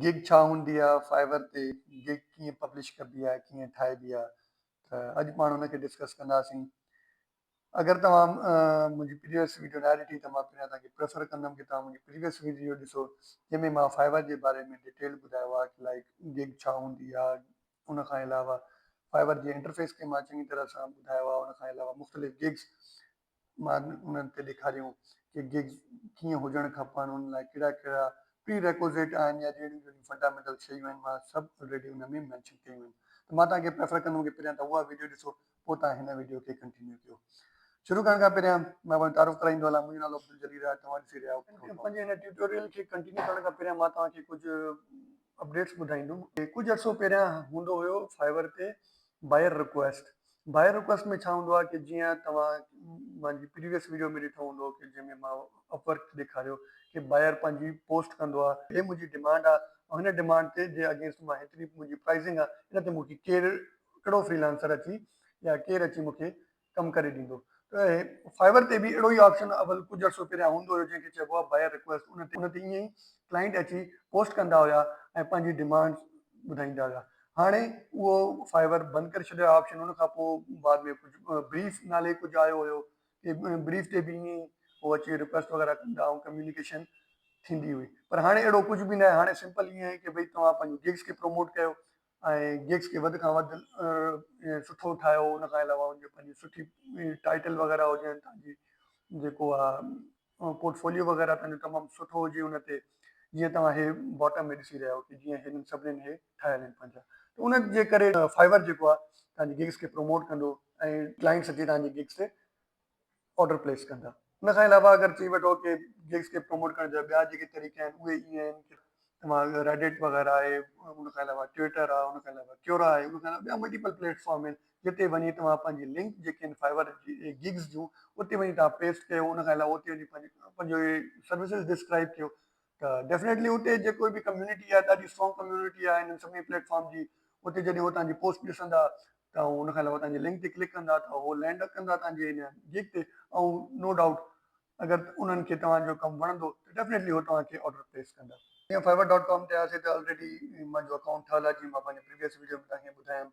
گگ ڇا هوندي آ، فائبر تي گگ ڪيئن پبلش ڪبي آ، ڪيئن ٺاهبي آ ته اڄ پاڻ ان کي ڊسڪس ڪنداسين. اگر توهان منهنجي پريويس ويڊيو ناهي ڏٺي ته مان پهريان توهان کي پريفر ڪندم ڪي توهان منهنجي پريويس ويڊيو ڏسو جنهن ۾ مان فائبر جي باري ۾ ڊيٽيل ٻڌايو آ ڪي لائيڪ گگ ڇا هوندي آ ان کان علاوه فائبر جي انٽرفيس کي مان چڱي طرح سان ٻڌايو آ ان کان علاوه مختلف گگس مان انهن کي ڏيکاريون ڪي گگز ڪيئن هجڻ کپن، ان لاء ڪهڙا ڪهڙا پري ريڪوزيٽ آهن يا جهڙيون جهڙيون فنڊامينٽل شيون آهن مان سڀ الريڊي ان ۾ مينشن ڪيون آهن ته مان توهان کي پريفر ڪندم ڪي پهريان توهان اها ويڊيو ڏسو پوء توهان هن ويڊيو کي ڪنٽينيو ڪيو. شروع ڪرڻ کان پهريان مان پنهنجو تعارف ڪرائيندو هلان منهنجو نالو عبدالجليل آهي توهان ڏسي رهيا آهيو ڪنٽينيو پنهنجي هن ٽيوٽوريل کي ڪنٽينيو ڪرڻ کان پهريان مان توهان کي ڪجهه اپڊيٽس ٻڌائيندم. ڪجهه عرصو پهريان هوندو هيو فائبر تي باير رڪويسٽ باء رڪويسٽ ۾ ڇا هوندو آهي ڪي جيئن توهان منهنجي پريويس ويڊيو ۾ ڏٺو هوندو ڪي جنهن ۾ مان اپ ورڪ ڏيکاريو ڪي باير پنهنجي پوسٽ ڪندو آهي هي منهنجي ڊمانڊ آهي ۽ هن ڊمانڊ تي جي اگينسٽ مان هيتري منهنجي پرائيزنگ آهي ان تي مونکي ڪير ڪهڙو فريلانسر اچي يا ڪير اچي مونکي ڪم ڪري ڏيندو ته هي فائبر تي به اهڙو ئي آپشن اول ڪجهه عرصو پهريان هوندو هيو جنهن کي چئبو آهي باير رڪويسٽ ان تي ان تي ائين ئي ڪلائنٽ اچي پوسٽ ڪندا هيا ۽ پنهنجي ڊمانڊ ٻڌائيندا هيا هاڻي اهو فائبر بند ڪري ڇڏيو آهي آپشن ان کان پوء بعد ۾ ڪجهه بريف نالي ڪجهه آيو هيو ڪي بريف تي به ائين هو اچي رڪويسٽ وغيره ڪندا ۽ ڪميونيڪيشن ٿيندي هئي پر هاڻي اهڙو ڪجهه به ناهي هاڻي سمپل ائين آهي ڪي ڀئي توهان پنهنجو گيگز کي پروموٽ ڪيو ۽ گيگز کي وڌ کان وڌ سٺو ٺاهيو ان کان علاوه ان جو پنهنجي سٺي ٽائيٽل وغيره هجن تنهنجي جيڪو آهي پورٽفوليو وغيره تنهن جو تمام سٺو هجي ان تي جيئن توهان هي باٽم ۾ ڏسي رهيا آهيو ته جيئن هنن سڀنين هي ٺاهيل آهن پنهنجا ته ان جي ڪري Fiverr جيڪو آهي توهان جي گگس کي پروموٽ ڪندو ۽ ڪلائنٽس اچي توهان جي گگس تي آرڊر پليس ڪندا ان کان علاوه اگر چئي وٺو ڪي گگس کي پروموٽ ڪرڻ جا ٻيا جيڪي طريقا آهن اهي ائين آهن ڪي توهان Reddit وغيره آهي ان کان علاوه Twitter آهي ان کان علاوه Quora آهي ان کان علاوه ٻيا ملٽيپل پليٽ فارم آهن جتي وڃي توهان پنهنجي لنڪ جيڪي آهن فائبر گگز جون اتي وڃي توهان پيسٽ ڪيو ان کان علاوه اتي وڃي پنهنجو سروسز ڊسڪرائب ڪيو ته ڊيفنيٽلي اتي جيڪو به ڪميونٽي آهي ڏاڍي اسٽرانگ ڪميونٽي آهي هن سڀني پليٽ فارم جي اتي جڏهن هو تنهنجي پوسٽ ڏسندا ته ان کان علاوه تنهنجي لنڪ تي ڪلڪ ڪندا ته هو لينڊ ڪندا تنهنجي هن گيگ تي ۽ نو ڊائوٽ اگر انهن کي توهانجو ڪم وڻندو ته ڊيفنيٽلي هو توهان کي آرڊر پليس ڪندا جيئن فائبر ڊاٽ ڪام تي آياسي ته آلريڊي منهنجو اڪائونٽ ٺهيل آهي جيئن مان پنهنجي پريويس ويڊيو ۾ توهان کي ٻڌايم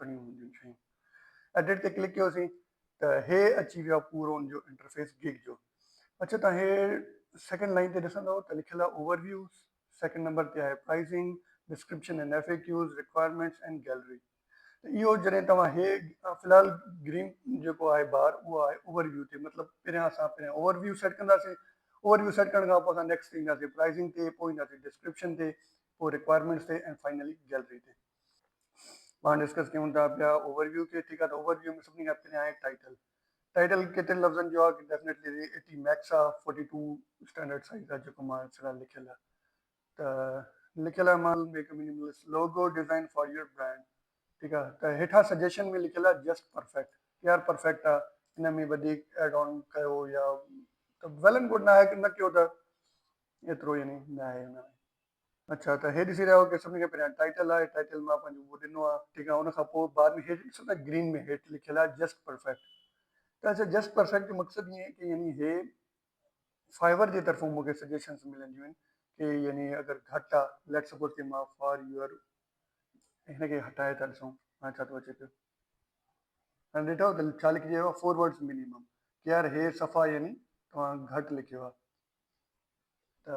کڻيون هونديون شيون ايڊٽ تي ڪلڪ ڪيوسين ته هي اچي ويو آهي پورو ان جو انٽرفيس گگ جو اڇا تان هي سيڪنڊ لائين تي ڏسندو ته لکيل آهي اوور ويو سيڪنڊ نمبر تي آهي pricing description and F A Qs requirements and gallery ته اهو جڏهن توهان هي في الحال گرين جيڪو آهي بار اهو آهي اوور ويو تي مطلب پهريان اسان پهريان اوور ويو سيٽ ڪنداسين اوور ويو سيٽ ڪرڻ کان پوء اسان نيڪسٽ تي اينداسين پرائزنگ تي پوء اينداسين ڊسڪرپشن تي پوء رڪوائرمينٽس تي اينڊ فائنلي گيلري تي پاڻ ڊسڪس ڪيون ٿا پيا اوور ويو کي ٺيڪ آ ته اوور ويو ۾ سڀني کان پھريان آھي ٽائيٽل ٽائيٽل ڪيترن لفظن جو آ ڊيفنيٽلي ايٽي ميڪس آ فورٽي ٽو اسٽينڊرڊ سائيز آ جيڪو مان سرا لکيل آ ته لکيل آ مان make a minimalist logo design for your brand ٺيڪ آ ته ھيٺان سجيشن ۾ لکيل آ جسٽ پرفيڪٽ يار پرفيڪٽ آ ان ۾ وڌيڪ ايڊ آن ڪيو يا ته ويل اينڊ گوڊ ناھي نه ڪيو ته ايترو يعني ناھي ان ۾ اڇا ته هي ڏسي رهيا هئا ڪي سڀني کان پهريان ٽائيٽل آهي ٽائيٽل مان پنهنجو اهو ڏنو آهي ٺيڪ آهي ان کان پوء بعد ۾ هيٺ ڏسو ته گرين ۾ هيٺ لکيل آهي جسٽ پرفيڪٽ ته اڇا جسٽ پرفيڪٽ جو مقصد ائين آهي ڪي يعني هي فائبر جي طرفون مونکي سجيشنس ملنديون آهن ڪي يعني اگر گهٽ آهي ليٽ سپوز ڪي مان فار يور هن کي هٽائي ٿا ڏسون هاڻي ڇا ٿو اچي پيو هاڻي ڏٺو ته ڇا لکجي ويو فور ورڊس مينيمم ڪي يار هي صفا يعني توهان گهٽ لکيو آهي ته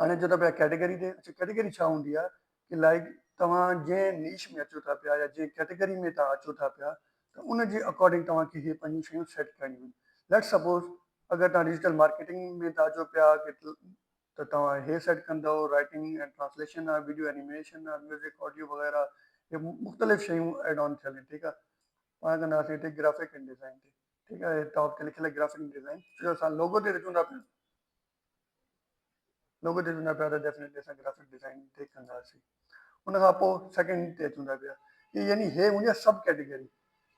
هاڻي اچو ٿا پيا ڪيٽيگري تي. اچو ڪيٽيگري ڇا هوندي آهي ڪي لائيڪ توهان جنهن نيش ۾ اچو ٿا پيا يا جنهن ڪيٽيگري ۾ توهان اچو ٿا پيا ته ان جي اڪارڊنگ توهان کي هي پنهنجون شيون سيٽ ڪرڻيون آهن ليٽس سپوز اگر توهان ڊجيٽل مارڪيٽنگ ۾ ٿا اچو پيا ته توهان هي سيٽ ڪندؤ رائيٽنگ ۽ ٽرانسليشن آهي ويڊيو اينيميشن آهي ميوزڪ آڊيو وغيره هي مختلف شيون ايڊ آن ٿيل آهن ٺيڪ آهي پاڻ ڪنداسين هتي گرافڪ ۽ ڊيزائن تي ٺيڪ آهي ٽاپ تي لکيل گرافڪ ڊيزائن جو اسان لوگو تي اچون ٿا پيا لوگو تي چوندا پيا ته ڊيفنيٽلي اسان گرافڪ ڊيزائن تي ڪنداسين ان کان پوء سيڪنڊ تي چوندا پيا هي يعني هي هوندي آهي سب ڪيٽيگري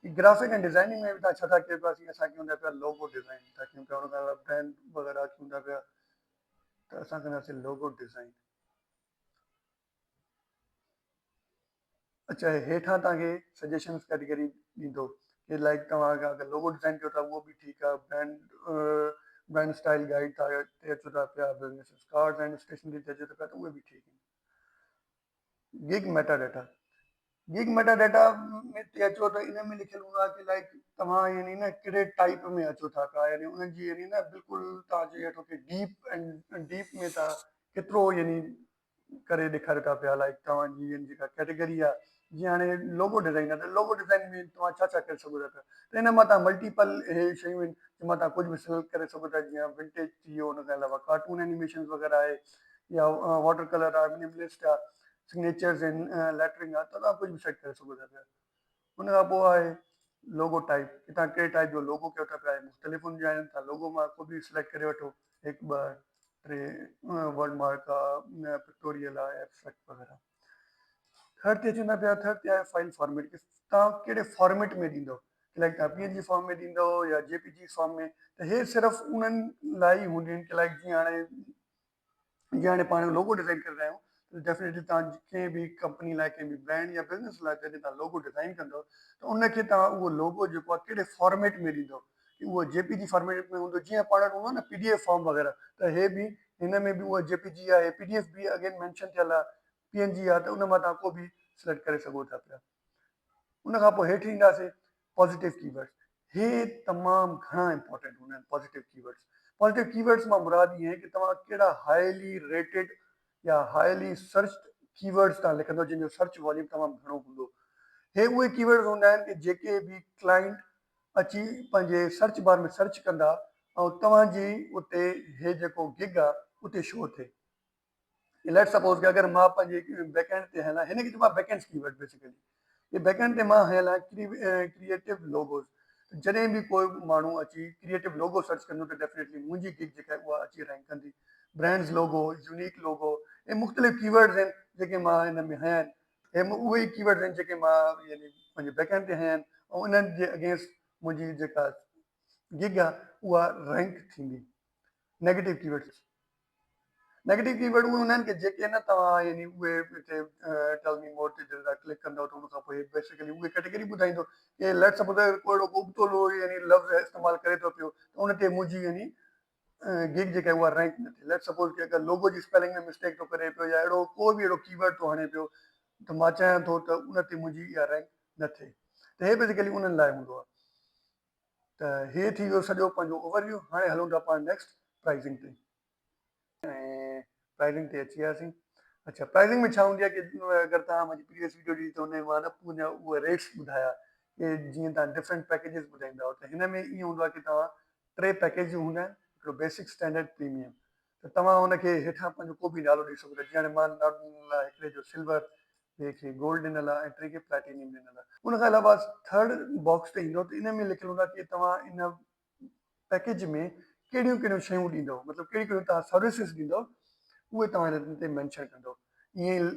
هي گرافڪ ۽ ڊيزائننگ ۾ به تان ڇا ٿا ڪيو پيا اسان کي هوندا پيا لوگو ڊيزائن ٿا ڪيون پيا ان کان علاوه برانڊ وغيره چوندا پيا ته اسان ڪنداسين لوگو ڊيزائن اچا هي هيٺان توهان کي سجيشنز ڪيٽيگري ڏيندو جي لائڪ توهان اگر اگر لوگو ڊيزائن ڪيو ٿا اهو به ٺيڪ آهي برانڊ برانڊ اسٽائل گائيڊ ٿا تي اچو ٿا پيا بزنس ڪارڊز ۽ اسٽيشنري تي اچو ٿا پيا ته اهي به ٺيڪ آهن gig meta data gig meta data ۾ تي اچو ته ان ۾ لکيل هوندو آهي ته لائڪ توهان يعني نه ڪهڙي ٽائپ ۾ اچو ٿا پيا يعني انهن جي يعني نه بلڪل توهان جي هيٺ ڊيپ ۽ ڊيپ ۾ تها ڪيترو يعني ڪري ڏيکاريو ٿا پيا لائيڪ توهان جي ان جيڪا ڪيٽيگري آ جيئن هاڻي لوگو ڊزائين آ ته لوگو ڊزائين ۾ توهان ڇا ڇا ڪري سگهو ٿا پيا ته ان مان توهان ملٽيپل اهي شيون آهن جن مان توهان ڪجهه به سليڪٽ ڪري سگهو ٿا جيئن ونٽيج ٿي ويو ان کان علاوه ڪارٽون اينيميشنز وغيره آهي يا واٽر ڪلر آ منيملسٽ آ سگنيچرز آهن ليٽرنگ آ ته توهان ڪجهه به سيٽ ڪري سگهو ٿا پيا. ان کان پوء آهي لوگو ٽائيپ ڪي توهان ڪهڙي ٽائيپ جو لوگو ڪيو ٿا پيا اهي مختلف هونديون آهن توهان لوگو مان ڪو به سليڪٽ ڪري وٺو هڪ ٻه ٽي ورڊ مارڪ آهي پڪٽوريل آهي ايبسٽريڪٽ وغيره ٿرڊ تي اچون ٿا پيا ٿرڊ تي آهي فائل فارميٽ ڪي توهان ڪهڙي فارميٽ ۾ ڏيندو لائڪ توهان پي اين جي فارم ۾ ڏيندو يا جي پي جي فارم ۾ ته هي صرف انهن لاء ئي هونديون آهن ڪي لائڪ جيئن هاڻي جي هاڻي پاڻ لوگو ڊزائين ڪري رهيا آهيون ته ڊيفنيٽلي تهان ڪنهن به ڪمپني لاء ڪنهن به برانڊ يا بزنس لاء جڏهن تهان لوگو ڊزائين ڪندو ته ان کي تهان اهو لوگو جيڪو آهي ڪهڙي فارميٽ ۾ ڏيندو ڪي اهو جي پي جي فارميٽ ۾ هوندو جيئن پاڻ وٽ هوندو آهي نه پي ڊي ايف فارم وغيره ته هي به هن ۾ به اهو جي پي جي آهي پي ڊي ايف به اڳين مينشن ٿيل آهي پي اين جي آهي ته ان مان تهان ڪو به سليڪٽ ڪري سگهو ٿا پيا. ان کان پوء هيٺ اينداسي پازيٽو ڪي ورڊز هي تمام گهڻا امپورٽنٽ هوندا آهن پازيٽو ڪي ورڊز پازيٽو ڪي ورڊز مان مراد اها آهي ته توهان ڪهڙا هائلي ريٽيڊ يا هائلي سرچڊ ڪي ورڊز تان لکندو جن جو سرچ واليوم تمام گهڻو هوندو هي اهي ڪي ورڊز هوندا آهن ڪي جيڪي به ڪلائنٽ اچي پنهنجي سرچ بار ۾ سرچ ڪندا ۽ توهان جي اتي هي جيڪو گگ آهي اتي شو ٿئي. ليٽس سپوز ڪي اگر مان پنهنجي بيڪ اينڊ تي هيان هن کي چئبو آهي back end keyword basically جي بيڪ اينڊ تي مان هيان ڪريئيٽو لوگوز جڏهن به ڪو به ماڻهو اچي ڪريئيٽو لوگو سرچ ڪندو ته ڊيفنيٽلي منهنجي گگ جيڪا آهي اها اچي رينڪ ڪندي برانڊز لوگو يونيڪ لوگو اهي مختلف ڪي ورڊز آهن جيڪي مان هن ۾ هيا آهن اهي اهي ئي ڪي ورڊز آهن جيڪي مان يعني پنهنجي بيڪ اينڊ تي هيا آهن ۽ انهن جي اگينسٽ منهنجي جيڪا گگ آهي اها رينڪ ٿيندي negative keywords negative keyword اهي هوندا آهن ڪي جيڪي نه توهان يعني اهي هتي ٽيل مي مور تي جڏهن توهان ڪلڪ ڪندو ته ان کان پوء هي بيسڪلي اهي ڪيٽيگري ٻڌائيندو ڪي ليٽس سپوز اگر ڪو اهڙو ابتو لوء يعني لفظ استعمال ڪري ٿو پيو ته ان تي منهنجي يعني گيگ جيڪا اها رينڪ نه ٿئي ليٽس سپوز ڪي اگر لوگو جي اسپيلنگ ۾ مسٽيڪ ٿو ڪري پيو يا اهڙو ڪو به اهڙو ڪي ورڊ ٿو هڻي پيو ته مان چاهيان ٿو ته ان تي منهنجي اها رينڪ نه ٿئي ته هي بيسڪلي انهن لاء هوندو آهي. ته هي ٿي ويو سڄو پنهنجو اوور ويو هاڻي هلون ٿا پاڻ نيڪسٽ پرائزنگ تي ۽ پرائزنگ تي اچي وياسين اچا پرائزنگ ۾ ڇا هوندي آهي ڪي اگر توهان منهنجي پريويس ويڊيو ڏٺي ته ان ۾ مان پنهنجا اهي ريٽس ٻڌايا ڪي جيئن توهان ڊفرنٽ پيڪيجز ٻڌائيندا آهيو ته هن ۾ ائين هوندو آهي ڪي توهان ٽي پيڪيجون هوندا آهن هڪڙو بيسڪ اسٽينڊرڊ پريميم ته توهان ان کي هيٺان پنهنجو ڪو به نالو ڏئي سگهو ٿا جيان مان نالو ڏنل آهي هڪڙي جو سلور ٻئي کي گولڊ ڏنل آهي ۽ ٽئين کي پليٽينيم ڏنل آهي ان کان علاوه ٿرڊ باڪس تي ايندو ته ان ۾ لکيل هوندا ڪي توهان ان پيڪيج ۾ ڪهڙيون ڪهڙيون شيون ڏيندو مطلب ڪهڙيون ڪهڙيون توهان سروسز ڏيندو اهي توهان هن تي مينشن ڪندو ائين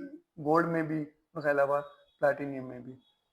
گولڊ ۾ به ان کان علاوه پليٽينيم ۾ به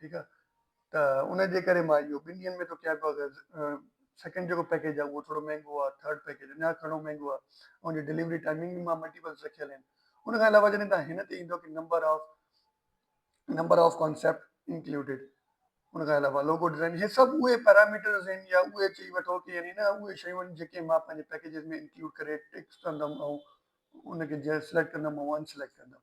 ٺيڪ آ ته ان جي ڪري مان اهو ٻن ڏينهن ۾ ٿو ڪيان پيو ته سيڪنڊ جيڪو پيڪيج آ اهو ٿورو مهنگو آ ٿرڊ پيڪيج اڃا گهڻو مهنگو آ ان جي ڊليوري ٽائمنگ به مان ملٽيپلس رکيل آهن ان کان علاوه جڏهن تهان هن تي ايندو ڪي number of number of concept included ان کان علاوه لوگو ڊزائن هي سڀ اهي پيراميٽرز آهن يا اهي چئي وٺو ڪي يعني نه اهي شيون آهن جيڪي مان پنهنجي پيڪيجز ۾ انڪلوڊ ڪري ٽڪس ڪندم ۽ ان کي جنهن سليڪٽ ڪندم ۽ ان سليڪٽ ڪندم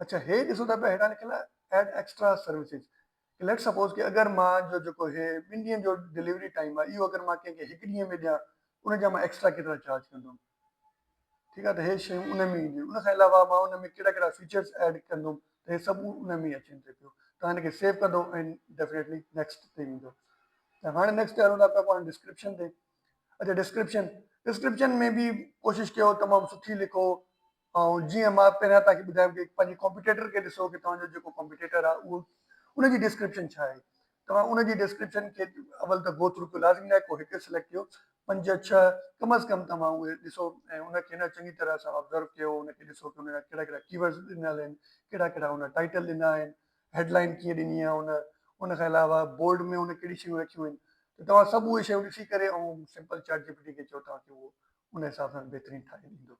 اڇا هي ڏسو ته پيا هيٺان لکيل Add Extra Services ڪي ليٽس سپوز ڪي اگر مان جو جيڪو هي ٻن ڏينهن جو ڊليوري ٽائيم آهي اهو اگر مان ڪنهن کي هڪ ڏينهن ۾ ڏيان ان جا مان ايڪسٽرا ڪيترا چارج ڪندم ٺيڪ آهي ته هي شيون ان ۾ اينديون ان کان علاوه مان ان ۾ ڪهڙا ڪهڙا فيچرس ايڊ ڪندم ته هي سڀ ان ۾ اچين ٿي پيو تان ان کي سيو ڪندو ۽ ڊيفينيٽلي نيڪسٽ تي ويندو ته هاڻي نيڪسٽ تي هلون ٿا پيا پاڻ ڊسڪرپشن تي اچھا ڊسڪرپشن ڊسڪرپشن ۾ به ڪوشش ڪيو تمام سٺي لکو ۽ جيئن مان پهريان توهان کي ٻڌايم ڪي پنهنجي ڪمپيٽيٽر کي ڏسو ڪي توهان جو جيڪو ڪمپيٽيٽر آهي اهو ان جي ڊسڪرپشن ڇا آهي توهان ان جي ڊسڪرپشن کي اول ته گو ٿرو ڪيو لازمي ناهي ڪو هڪ سليڪٽ ڪيو پنج ڇهه ڪم از ڪم توهان اهي ڏسو ۽ ان کي نه چڱي طرح سان آبزرو ڪيو ان کي ڏسو ڪي ان جا ڪهڙا ڪهڙا ڪيورڊز ڏنل آهن ڪهڙا ڪهڙا ان ٽائيٽل ڏنا آهن هيڊ لائين ڪيئن ڏني آهي ان ان کان علاوه بولڊ ۾ ان ڪهڙي شيون رکيون آهن ته توهان سڀ اهي شيون ڏسي ڪري ۽ simple ChatGPT کي چئو توهان کي اهو ان حساب سان بهترين ٺاهي ڏيندو.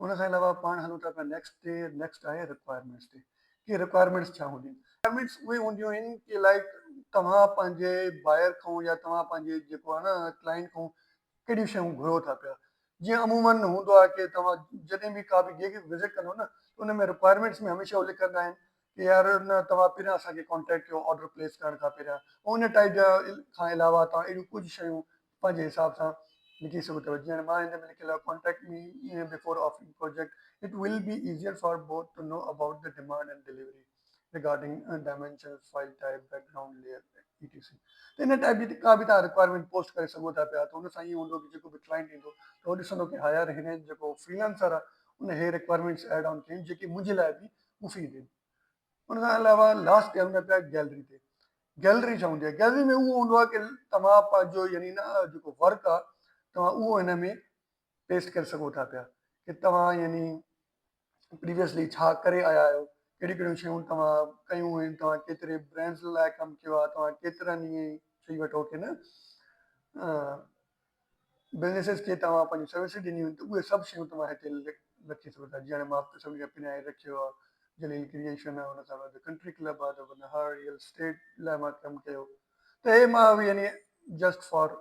ان کان علاوه پاڻ هلون ٿا پيا نيڪسٽ تي نيڪسٽ آهي رڪوائرمينٽس تي ڪي رڪوائرمينٽس ڇا هونديون آهن رڪوائرمينٽس اهي هونديون آهن ڪي لائڪ توهان پنهنجي بائر کان يا توهان پنهنجي جيڪو آهي نه ڪلائنٽ کان ڪهڙيون شيون گهرو ٿا پيا جيئن عمومن هوندو آهي ڪي توهان جڏهن به ڪا به جيڪي وزٽ ڪندو نه ان ۾ رڪوائرمينٽس ۾ هميشه اهو لکندا آهن ڪي آر نه توهان پهريان اسان کي ڪانٽيڪٽ ڪيو آرڊر پليس ڪرڻ کان پهريان ۽ ان ٽائيپ جا کان علاوه توهان اهڙيون ڪجهه شيون پنهنجي حساب سان لکي سگهو ٿا جيئن هاڻي مان هن ۾ لکيل آهي contact me before offering project it will be easier for both to know about the demand and delivery regarding dimensions file type background layer E T C ته ان ٽائيپ جي ڪا به توهان رڪوائرمينٽ پوسٽ ڪري سگهو ٿا پيا ته ان سان ائين هوندو ته جيڪو به ڪلائنٽ ايندو ته هو ڏسندو ڪي ها يار هن جيڪو فريلانسر آهي ان هي رڪوائرمينٽس ايڊ آن ڪيون جيڪي منهنجي لاء به مفيد آهن. ان کان علاوه لاسٽ ٽيم ۾ پيا گيلري تي گيلري ڇا هوندي آهي گيلري ۾ اهو هوندو آهي توهان پنهنجو يعني نه جيڪو ورڪ آهي توهان اهو هن ۾ پيسٽ ڪري سگهو ٿا پيا ڪي توهان يعني پريويسلي ڇا ڪري آيا آهيو ڪهڙيون ڪهڙيون شيون توهان ڪيون آهن توهان ڪيتري برانڊز لاء ڪم ڪيو آهي توهان ڪيترن ائين چئي وٺو ڪي نه بزنيسز کي توهان پنهنجون سروسز ڏنيون آهن ته اهي سڀ شيون توهان هتي رکي سگهو ٿا جيئن هاڻي مان سڀني کي پنهنجي رکيو آهي جليل ڪريئيشن آهي ان سان گڏ The Country Club آهي ته ان هر ريئل اسٽيٽ لاء مان ڪم ڪيو ته هي مان اهي يعني جسٽ فار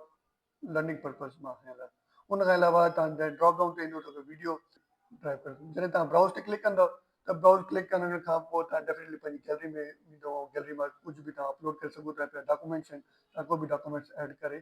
لرننگ پرپز مان هنيل آهي ان کان علاوه توهان جڏهن ڊراپ ڊائون تي ايندو ته اهي ويڊيو ڊرائيو ڪري سگهو جڏهن توهان برائوز تي ڪلڪ ڪندو ته برائوز ڪلڪ ڪرڻ کان پوء توهان ڊيفينيٽلي پنهنجي گيلري ۾ ويندو ۽ گيلري مان ڪجهه به توهان اپلوڊ ڪري سگهو ٿا پيا ڊاڪومينٽس آهن توهان ڪو به ڊاڪومينٽس ايڊ ڪري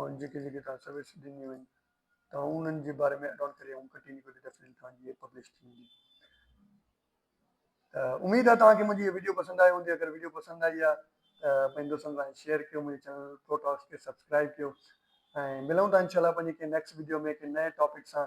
هاڻ جيڪي جيڪي توهان سروسز ڏنيون آهن توهان انهن جي باري ۾ اڊاڻ ڪري آئون ڪٽي نه ڪٽي تفصيل توهان جي هي پبلش ٿي ويندي ته اميد آهي توهان کي منهنجي هي وڊيو پسند آئي هوندي اگر وڊيو پسند آئي آهي ته پنهنجي دوستن سان شيئر ڪيو منهنجي چينل پرو ٽاڪس کي سبسڪرائب ڪيو ۽ ملون ٿا انشاء الله پنهنجي ڪنهن نيڪسٽ وڊيو ۾ ڪنهن نئين ٽاپڪ سان